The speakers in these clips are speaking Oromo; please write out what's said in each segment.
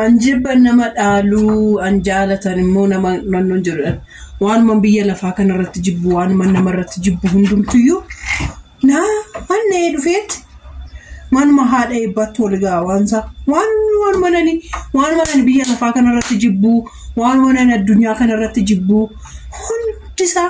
An jibban nama dhaaluu, an jaalatan immoo nama nannoon jedhudha. Waanuman biyya lafaa kanarratti jibbu, waanuman namarratti jibbu hundumtuyyuu naa hannee dhufeetti manuma haadha eebbaatti wal ga'a waansaa. Waan waanuma nani waanuma nani biyya lafaa kanarratti jibbu, waanuma nani addunyaa kanarratti jibbu hundisaa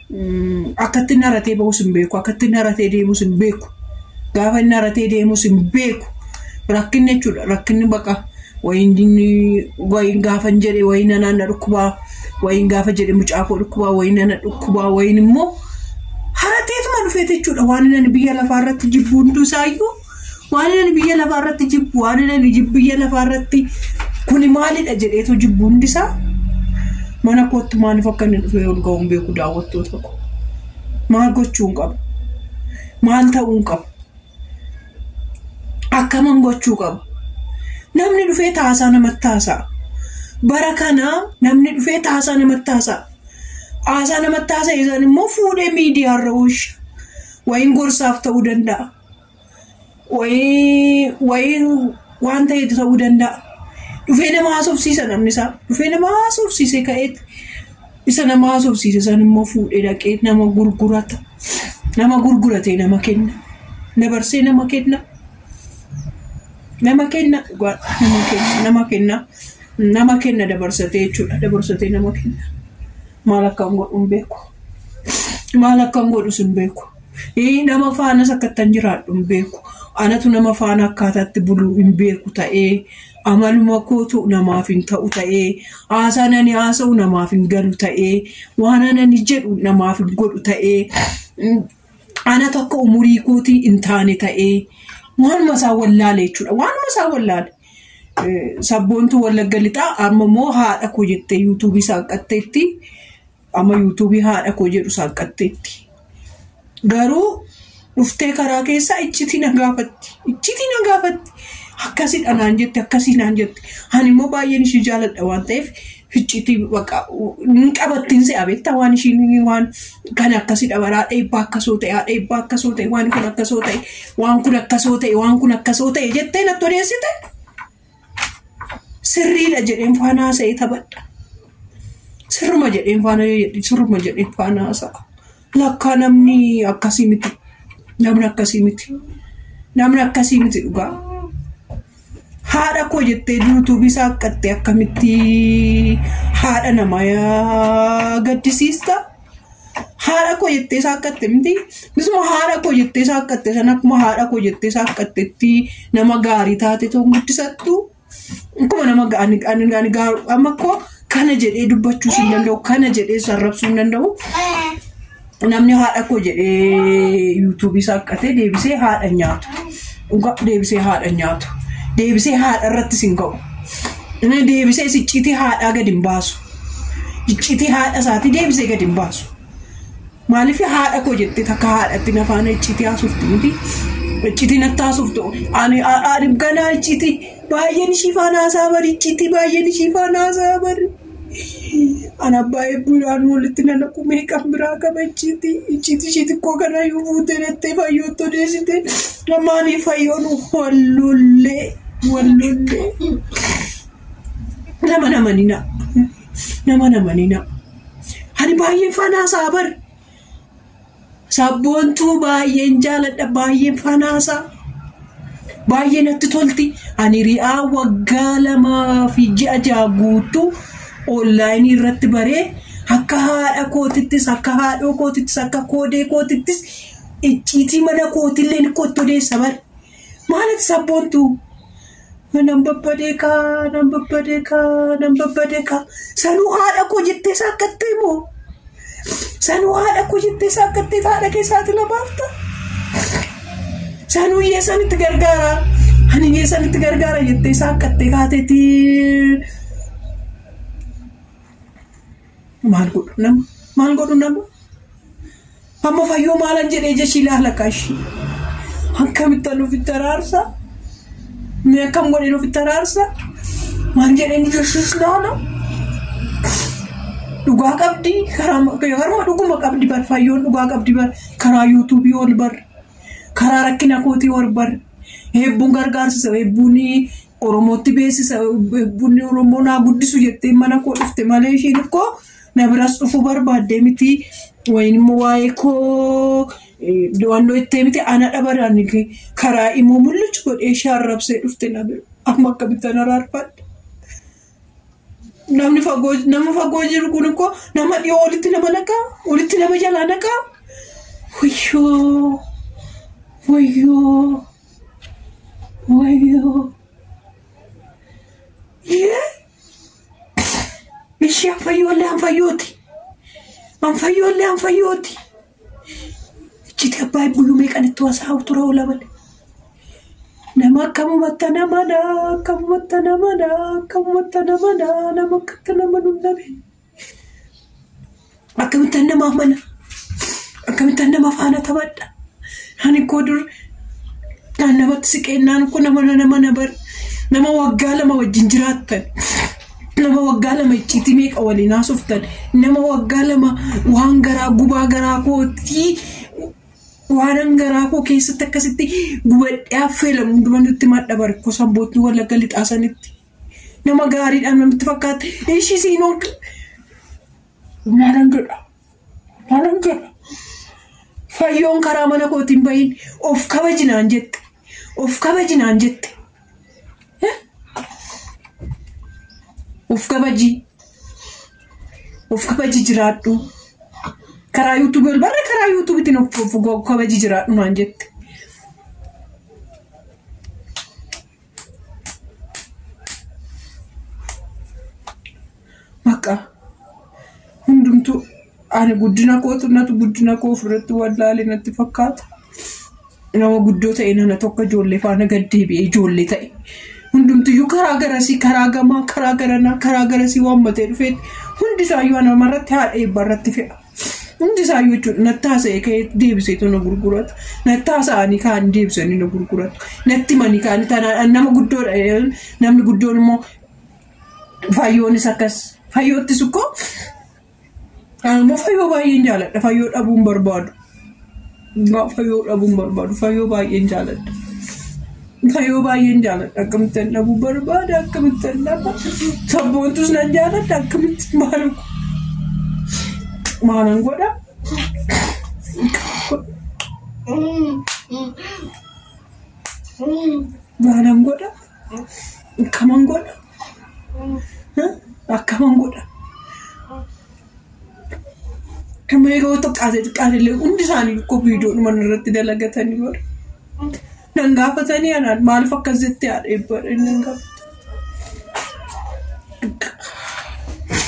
Akkatti inni haratee ba'us hin beeku. Akkatti inni haratee deemus hin beeku. Gaafa inni haratee deemus hin beeku. Rakkinni jechuudha. Rakkinni baqa wayiin dinni wayiin gaafa hin jedhe wayiin nanaan na dhukkubaa wayiin gaafa jedhe mucaa koo dhukkubaa wayiin nana dhukkubaa wayiin immoo harateetuma dhufeete jechuudha. Waan inni biyya lafaa irratti jibbuuntuu isaayyuu Waan inni biyya lafaa irratti jibbu, waan inni jibbu biyya lafaa irratti kuni maalidha jedheetu jibbu hundisaa mana kootti maaliif akka inni dhufee ol ga'uun beeku daawwattoota koo. Maal gochuun qaba? Maal ta'uun qaba? Akkaman gochuu qaba? Namni dhufee taasaa namatti taasa'a. Bara kana namni dhufee taasaa namatti taasa'a. Haasaa namatti taasa'e san immoo fuudhee miidiyaarra oolcha. Wayiin gorsaaf ta'uu danda'a. wayii wayiin waan ta'etu ta'uu danda'a. Dhufee nama haasofsiisa namni isaa. Dhufee nama haasofsiisee ka'eet isa nama haasofsiise san immoo fuudhee dhaqee nama gurgurata. Nama gurguratee nama kenna. Dabarsee nama kenna. Nama kenna dhugaa nama kenna nama kenna nama kenna dabarsatee jechuudha dabarsatee nama kenna. Maal akkan godhu hin beeku. Maal akkan godhu sin beeku. Ii nama faanas akkattan jiraadhu hin beeku. Anatu nama faana akkaataatti bulu hin beeku ta'ee, amaluma kootu namaaf hin ta'u ta'ee, haasaan ani haasa'u namaaf hin galu ta'ee, waanan ani jedhu namaaf hin godhu ta'ee, mm, anatu akka umurii kootii hin taane ta'ee, waanuma isaa wallaale jechuudha. Waanuma isaa wallaale. Eh, Sabboontuu wallagga lixaa amma immoo haadha koo jettee yuutuubii saaqatteetti. Amma yuutuubii haadha koo jedhu saaqqatteetti. Garuu dhuftee karaa keessaa iccitii na gaafatti. Iccitii na gaafatti. Akkasidha naan jette akkasii naan jette. Ani immoo baay'een ishii jaaladha waan ta'eef iccitii baqa hin qabattiin se'a beektaa waan ishiin waan kan akkasidha baraa dheebbaa akkasoo ta'e haa dheebbaa akkasoo ta'e waan kun akkasoo ta'e waan kun akkasoo ta'e waan kun akkasoo ta'e jettee natti odeessite. Sirriidha jedheen faana haasa'ee taphadha. Sirruma jedheen faana yoo jedhe sirruma jedheen faana haasa'a. Lakkaa namni akkasii miti. Namni akkasii miti. Namni akkasii miti dhugaa. Haadha koo jettee yuutuubii isaa akkattee akkamitti haadha namaa gaddisiista. Haadha koo jettee isaa akka itti miti. Misuma haadha koo jettee isaa akka itti san akkuma haadha koo jettee isaa akka itti itti nama gaarii taate too guddisattu. Akkuma nama ga- ani ani ani gaaru amma koo kana jedhee dubbachuu hin danda'u kana jedhee sarrabsuu hin danda'u. Namni haadha koo jedhee yuutuubii isaa akka ta'e deebisee haadha nyaatu. Dhugaa deebisee haadha nyaatu. Deebisee haadha irratti sin ga'u. Inni deebisee sicciitii haadhaa gadi hin baasu. Iccitii haadha isaati deebisee gadi hin baasu. Maaliif haadha koo jettee takka haadhatti na faana iccitii haasofti miti. Iccitii natti haasoftu. Ani ani ganaa iccitii baay'een ishii faana haasaa bari iccitii baay'een ishii faana haasaa bari. Ana abbaa eebbuudhaan walitti na naqu meeqan biraa qaba iccitii iccitii ishii xiqqoo kana yoo fuutee jettee fayyootti odeessite. Maanii fayyoon wallollee wallollee. Nama namanina. Nama namanina. Ani baay'een faanaa isaa bar. Sabboontuu baay'een jaaladha baay'een faanaa isaa. Baay'ee natti tolti. Ani ri'aa waggaa lamaa fi ji'a ja'a guutuu onlaayinii irratti baree akka haadha kootittis akka haadhoo kootittis akka koodee kootittis icciitii mana kootillee kottu deessa bar. Maaliif sabboontuu? Nan babbadee kaa, nan babbadee kaa, nan babbadee kaa. Sanuu haadha koo jettee saakkattee moo? Sanuu haadha koo jettee saakkattee haadha kee saaxila baafta? Sanuu iyyee sanitti gargaara. Ani iyyee sanitti gargaara jettee saakkattee kaateetii. Maal godhu nama? Maal godhu nama? Amma fayyoo maalan jedhee jechii laala kaashii. Akkamitti nuuf itti araarsa? Mee akkam godhee nuuf itti araarsa? Maal jedhee ni jechis laala? Dhugaa qabdi karaa harma dhuguma qabdi bar fayyoon dhugaa qabdi bar karaa yuutuubii ol bar karaa rakkina kootii ol bar heebbuun gargaarsisa heebbuun Oromootti beeksisa bunni Oromoo naa guddisu jettee mana koo dhufte malee ishiin koo na biras dhufuu barbaaddee miti wayin immoo waa'ee koo do'annoo ittee miti ana dhabaraan karaa immoo mul'achu godhee ishee arrabsee dhufte na bira amma akkamittan araarfadha. Namni fagoo nama fagoo jiru kun koo nama dhiyoo walitti nama naqaa walitti nama jalaa naqaa wayyoo wayyoo. Wayyoo. Ishee anfayyoollee anfayyooti. Anfayyoollee anfayyooti. Ichiti abbaa buluu meeqan itti wasaa ture oola malee. Nama akkamumatti namadha akkamumatti namadha akkamumatti namadha nama akkatti nama nunnabe. Akkamittan namaaf mana? Akkamittan nama faana taphadha? Ani koo dur kan namatti siqeennaan kun nama nama na bar nama waggaa lama wajjin jiraattan nama waggaa lama icciitii meeqa waliin haasoftan nama waggaa lama waan garaa gubaa garaa kootii waanan garaa koo keessatti akkasitti gubadhee affeelamu hunduma nutti madda barikoo sanbootni wallagga lixaasanitti. Nama gaariidha namitti fakkaata. Ishii siin ol maalan godha? Maalan godha? Fayyoon karaa mana kootiin bahin of kabajinaan jette. Of kabajinaan jette. Eh? Of kabaji. Of kabaji jiraadhu. Karaa yuutuubii ol barra karaa yuutuubiitiin of of kabaji jiraadhu naan jette. Bakka hundumtuu ani guddina kootu natu guddina koo ofirratti wallaale natti fakkaata. Nama guddoo ta'e nana tokko ijoollee faana gad deebi'ee ijoollee ta'e. Hundumtiyyuu karaa garasii karaa gamaa karaa garanaa karaa garasii waammatee dhufeetti hundi isaayyuu namarratti haadha eebbarratti fe'a. Hundi isaayyuu jechuudha. Natti haasa'ee ka'ee deebiseetu na gurguratu. Natti haasa'anii kaan deebisanii na gurguratu. Natti himanii kaan tanaadhaan nama guddoodha. jedhan. Namni guddoon immoo fayyoonis akkas. Fayyoottis ukkoo. Ani immoo fayyoo baay'een jaaladha. Fayyoo dhabuun barbaadu. Dhugaa fayoo dhabuun barbaadu. Fayoo baay'een jaaladha. Fayoo baay'een jaaladha. Akkamittan dhabuu barbaada. Akkamittan dhaba. Sabboontus nan jaaladha. Akkamitti maal maalan godha? Maalan godha? Kaman godha? Akkaman godha. Amma yeroo xiqqaate xiqqaate illee hundi isaanii koo viidiyoodhuma irratti dalagatanii bara. Nan gaafatanii anaan maaliif akkas jettee haadha eebbadha inni hin gaafatu.